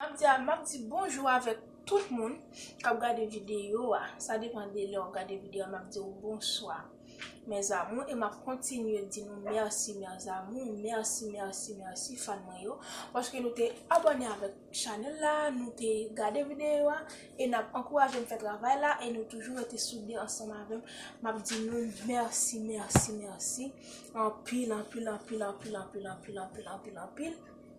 Map di a map di bonjou avèk tout moun kap gade video a sa depan de lè wap gade video a map diw bonswa mes amour e map kontinye di nou merci mes amour merci merci merci fan mwen yo paske nou te abòne avèk chanèl la nou te gade video a e nap ankourajem fè travay la e nou toujou rete soude ansanm avèm map di nou merci merci merci anpil anpil anpil anpil anpil anpil anpil anpil anpil anpil.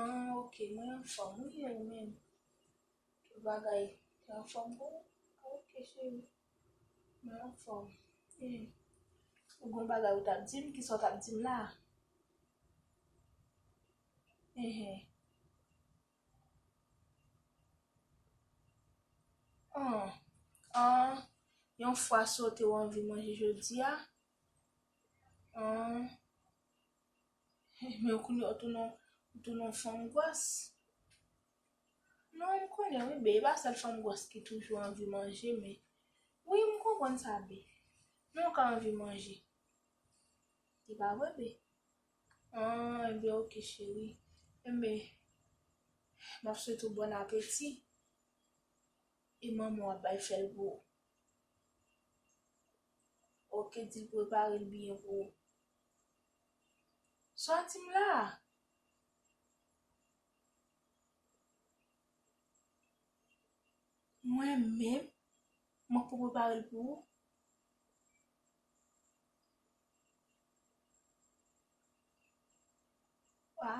Ahh ok mwen anfom wi e ou menm tout bagay te anfom pou ou ok cheri mwen anfom ee ou gon bagay ou tap dim kisa ou tap dim la enhen an an yon fwa sote ou anvi manje jodia an. Hum men kounye ou tounen ou tounen yon fanm gwòs. Non m konnen wi bee, e pa sèl fanm gwòs ki toujou anvi manje men wi m konprann sa bee. Men ou ka anvi manje. E pa vre bee? An enben ok cheri. Enben m ap swete ou bòn apeti e manman w ap bay fè l pou ou. Ok di l prepare l byen pou ou. Soti m la! Mwen menm, mwen poko prepare l pou ou. A,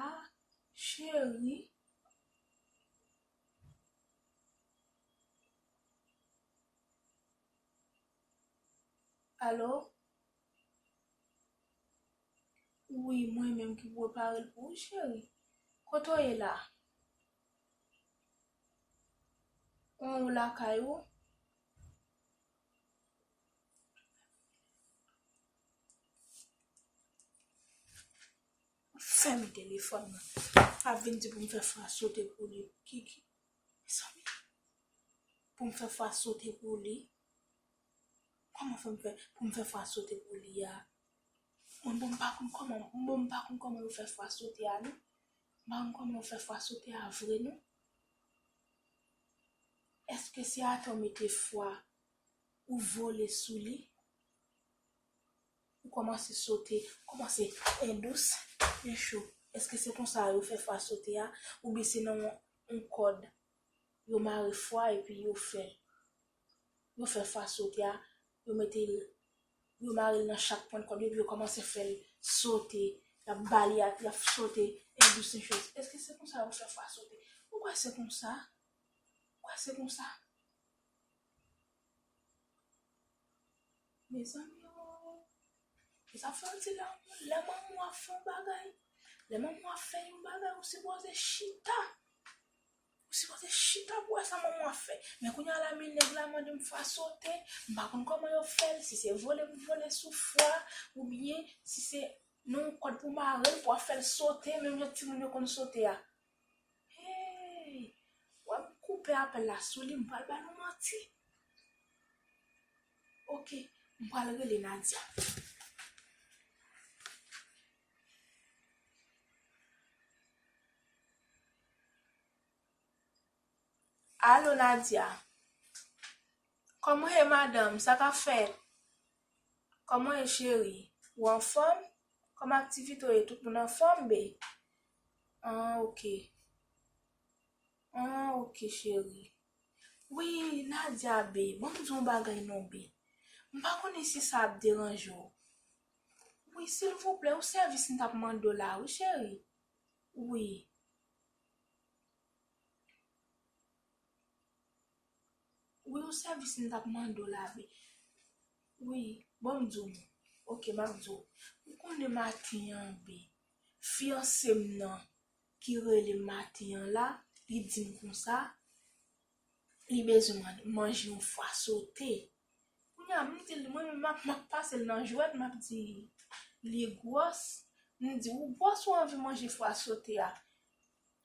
cheri. Alo? Ui mwen menm ki preparel pou ou cheri kote w ye la Ou ou lakay ou. Fèmen telefòn nan. Ap vin di pou m fè fwa sote pou li. Kiki. Mezanmi. Pou m fè fwa sote pou li. Koman fòm fè poum fè fwa sote pou li a mwen menm pa konn koman mwen menm pa konn koman yo fè fwa sote a non m pa konn koman yo fè fwa sote a vre non eske se atè ou mete fwa ou vole sou li ou komanse sote komanse en dous en cho eske se konsa yo fè fwa sote a oubyen se nan yon kòd yo mare fwa epi yo fè. yo fè fwa sote a, yo mete l, yo mare l nan chak pwent kòd yo epi yo kòmanse fè l sote, y ap ba li apye, y ap sote, en dous en chèz. Èske se konsa yo fè fwa sote? Ou kwè se konsa? Ou kwè se konsa? Mezanmi o! Ou sa fè yon ti lanmou, lè manman w ap fè yon bagay, lè manman w ap fè yon bagay ou sipoze chita. Ou sipoze chita pou wè sa manman an fè. Men kounye a la men nèg la mande m fwa sote, m pa konn kòman yo fè l, si se vole pou vole sou fwa oubyen si se nan yon kòd pou mare l pou wap fè l sote menm jan timoun yo konn sote a. Hey! Wè m koupe apèl la sou li, m pral ba nou manti. Ok, m pral rele Nadia. Allo Nadia Kòman ye madanm, sa kap fèt? Kòman ye cheri? Ou anfòm? Kòman aktivite w ye? Tout moun anfòm be? An ok An ok cheri Wi Nadia be, banm di w yon bagay non be M pa konnen si sa ap deranje w Wi silvouplè yon sèvis m tap mande w la wi cheri wi. Wi yon sèvis m tap mande w la wi. Wi bon m di w non ok map di w ou konnen maten an bi fiyanse m nan ki rele m maten an la li di m konsa. Li bezwen man manje yon fwa sote. Kounye a m di l mwen menm m ap pase l nan jwèt m ap di li gwòs. M di ou gwòs ou anvi manje fwa sote a.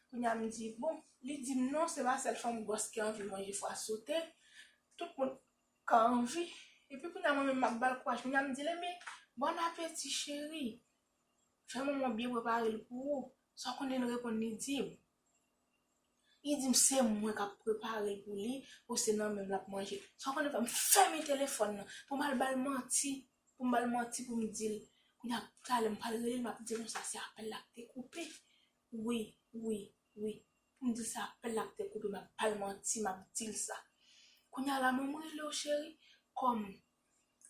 Kounye a m di bon, li di m non se pa sèl fanm gwòs ki anvi manje fwa sote. Tout moun ka anvi. Epi kounye a mwen menm m ap ba l kouraj. Kounye a m di l enben bòn apeti cheri. Fè manman w byen prepare l pou ou. Sa w konnen l reponn li di m. Li dim se mwen kap preparel pou li ou se nan menm lap manje. Sa ou konnen fèm fèmen telefòn nan poum al bal manti, poum bal manti poum dil kounya talè m pral relel map dil konsa se apèl la ki te koupe wi wi wi poum dil se apèl la ki te koupe map bal manti map dil sa. Kounya la menm m relew cheri kòm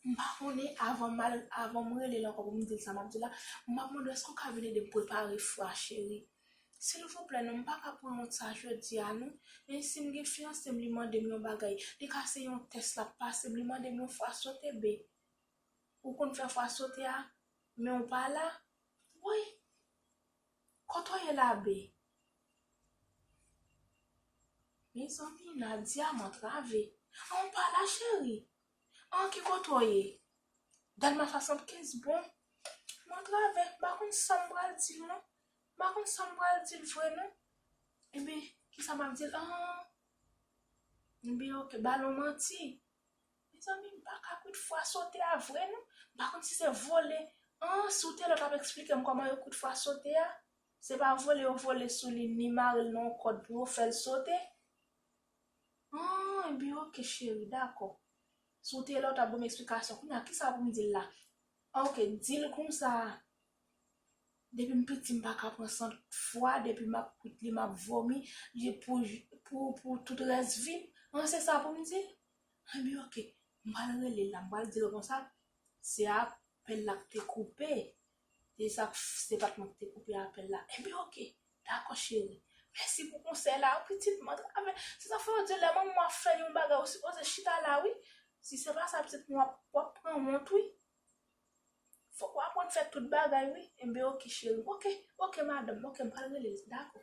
M pa konnen avan m al avan m rele l ankò pou m di l sa m ap di l la m ap mande w èske w ka vin ede m prepare fwa cheri silvouplè non m pa ka pran yon sa jodi a non men si m gen fiyanse m li mande m yon bagay li ka se yon tès l ap pase m li mande m yon fwa sote be ou konn fè fwa sote a men w pa la woy kote w ye la be. Mezanmi Nadia mantrave. An ou pa la cheri. An ki kote w ye. Delma 75 bon mantrave m pa konn sa m pral di l non. M pa konn sa m pral di l vre non. Ebyen kisa m ap di l an. Ebyen ok ba l yon manti. Mezanmi m pa ka kout fwa sote a vre non. M pa konn si se vole. An si w te la w t ap esplike m kòman yo kout fwa sote a. Se pa vole yo vole sou li ni mare l nan yon kòd pou yo fè l sote? Humm ebyen ok cheri dakò Si w te la w ta ban m eksplikasyon Kounye a kisa pou m di l la Ok di l konsa Depi m piti m pa ka pran sant fwa depi m ap koute li m ap vomi pou tout rès vi m An se sa pou m di l Ebyen ok m pral rele l la m pral di l konsa Se apèl la k te koupe Depi sa se pat mwen ki te koupe apèl la enben ok dakò cheri mèsi pou konsèy la pitit mwen travè se sa fè yo di lè manmanw ap fè yon bagay ou sipoze chita la wi si se pa sa pitit mwen wap pran wont wi fòk ou aprann fè tout bagay wi enben ok cheri ok ok madanm ok m pral relel dakò.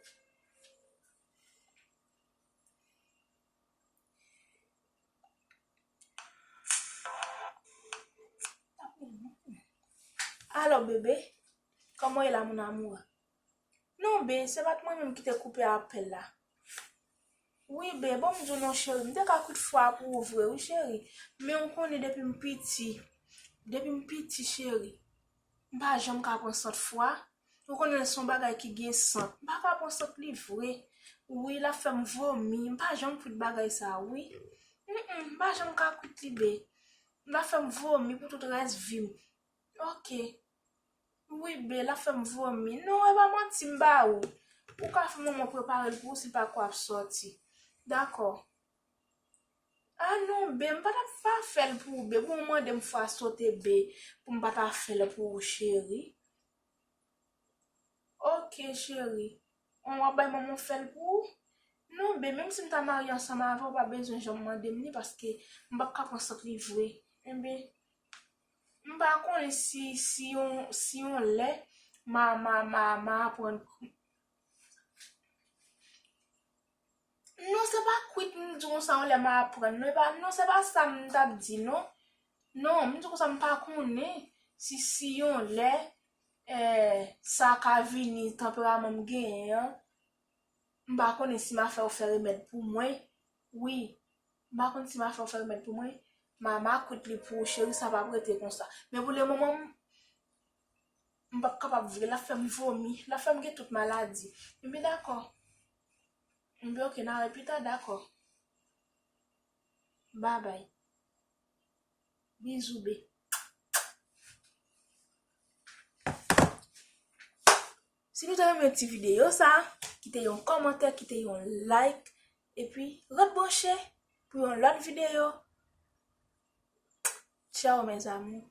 Alo bebe, koman e la moun amou? Non be, se pat mwen menm ki te koupe apèl la. Wi be, bon m di w non cheri, m te ka koute fwa pou ou vre wi cheri. Men ou konnen depi m piti, depi m piti cheri. M pa janm ka pran sant fwa. Ou konnen son bagay ki gen sant. M pa ka pran sant li vre. Wi lap fèm vomi. M pa janm kwit bagay sa wi. Humm m pa janm ka kwit li bee. Lap fèm vomi pou tout rès vim. Ok. Wi bee lap fèm vomi. Non e pa manti m ba ou. Ou ka fè manman preparel pou ou si pa ko ap soti. Dakò. Ah non bee m pa tap pa fèl pou ou bee pou ou mandem fwa sote bee pou m pa ta fèl pou ou cheri ok cheri on wap bay manman w fèl pou ou non bee menm si m ta marye ansanm avè w ou pa bezwen janm mandem li paske m pap ka pran sant li vre enben m pa konnen si si yon si yon lè ma ma ma aprann Non se pa kwit m di konsa yon lè m aprann non, epa non se pa sa m ta p di non. Non, m di konsa m pa konnen si si yon lè sa ka vini tanperaman m genyen an, m pa konnen si m a fè ou fè remèd pou mwen. Wi, m pa konnen si m a fè ou fè remèd pou mwen. Ma ma kwit li pou ou cheri sa pa p rete konsa. Men pou le moman m, m pa p kapab vre, l ap fè m vomi, l ap fè m gen tout maladi. Ebyen dakò. Mnbi ok na wè pita dakò babay bizou be. Si nou te renmen ti videyo sa, kite yon kòmantè, kite yon like, epi ret branche pou yon lòt videyo. Tchao mes amours.